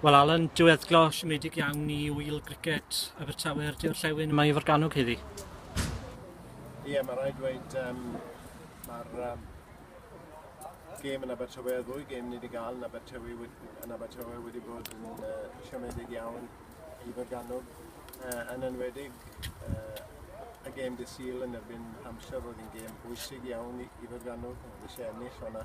Wel Alan, diweddglo siomedig iawn i wyl griced Abertawe a'r Diorllewin yma i Forgannwg heddi. Ie, yeah, mae rhaid dweud, um, mae'r um, gêm yn Abertawe, y ddwy gêm ni wedi gael yn Abertawe, yn Abertawe wedi bod yn uh, siomedig iawn i Berganwg, uh, yn enwedig uh, y gêm dy syl yn erbyn Hampshire oedd yn gêm bwysig iawn i, i Berganwg, oedd eisiau ennill o'na.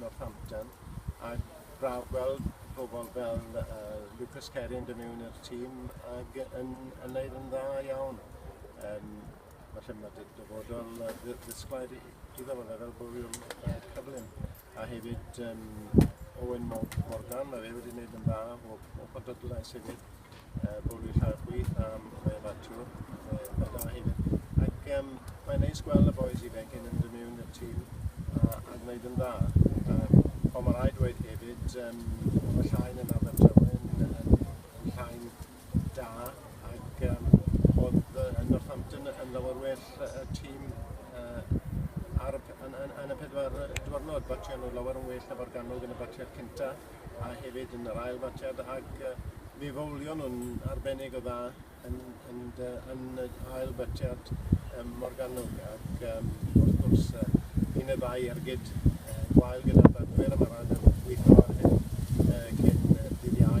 Northampton a braf gweld pobl fel Lucas Carey yn dod mewn i'r tîm ac yn wneud yn dda iawn. Um, felly mae dy dyfodol ddisglair iddo fe fel bwriwr cyflym. A hefyd um, Owen Morgan, mae fe wedi gwneud yn dda o, o bodadlais hefyd. uh, bod fi'n lladd chwi, um, mae yma tŵ, mae da hyn. Ac um, mae'n neis gweld y boys i ifanc yn mynd mewn i'r tîm a, a gwneud yn dda. Um, ond mae rhaid dweud hefyd, um, mae llain yn Abertawe yn, yn, yn llain da ac um, oedd uh, Northampton yn lawer well y tîm uh, ar, yn, yn, yn y pedwar diwrnod, batio nhw lawer yn well na Borgannwg yn y batiad cyntaf. a hefyd yn yr ail fatiad ac mi fowlion nhw'n arbennig o dda yn, yn, yn y ail fatiad um, Morgannwg ac um, wrth gwrs uh, un y ddau ergyd uh, gwael gyda'r bagwyr a mae'r rhaid yn gweithio ar hyn uh, cyn uh, dydd iau.